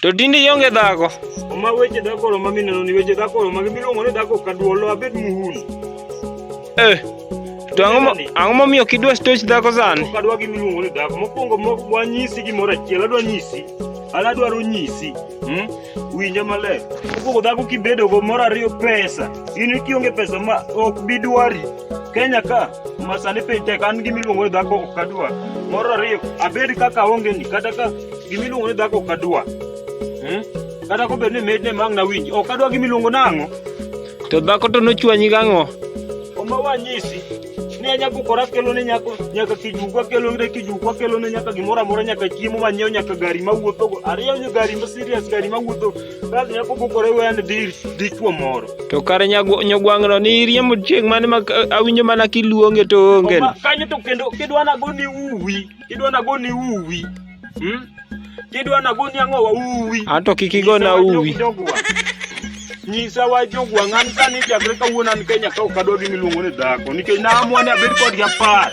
To tinde ionge dhako. Oma weche dhako oro ma mineno ni weche dhako oro ma gimiluongo ni dhako kaduolo abed muhuni. Eh. To ang'o mo- ang'o momiyo kidwa stoch dhako sani? Ok adwa gimiluongo ni dhako. Mokwongo mo- wanyisi gimoro achiel, adwa nyisi. An adwaro nyisi. Hmm? Winja maler. Mokwongo dhako kibedogo moro ariyo pesa. In kionge pesa ma ok bidwari. Kenya ka masani piny tek an gimiluongo ni dhako ok adwa. Moro ariyo abed kaka aongeni kata ka gimiluongo ni dhako ok adwa. Hmm? Kata kobed ni medne ma ang' nawinj ok adwa gimiluongo nang'o. To dhako to nochwanyi gang'o? Oma wanyisi ni anyabukora kelo ne nyako nyaka kijuku akelo ne kijuku akelo ne nyaka gimoro amora nyaka chiemo manyiewo nyaka gari mawuothogo ariyo nyo gari ma serious gari mawuotho Bas nyako bukore wen dhi dichwo moro. To kare nyago- nyogwang'no ni iriembo chieng' mane ma awinjo mana kiluonge to onge. Oma- Kanyo to kendo kidwa nago ni uwi, kidwa nago ni uwi. Hmm? Kidwa nago ni ang'owa uwi. Anto kik igona uwi. Nyisa wa jogwang' an kani chakre kawuono an Kenya ka ok adwa gimiluongo ni dhako nikech naamua ni abed kodgi apar.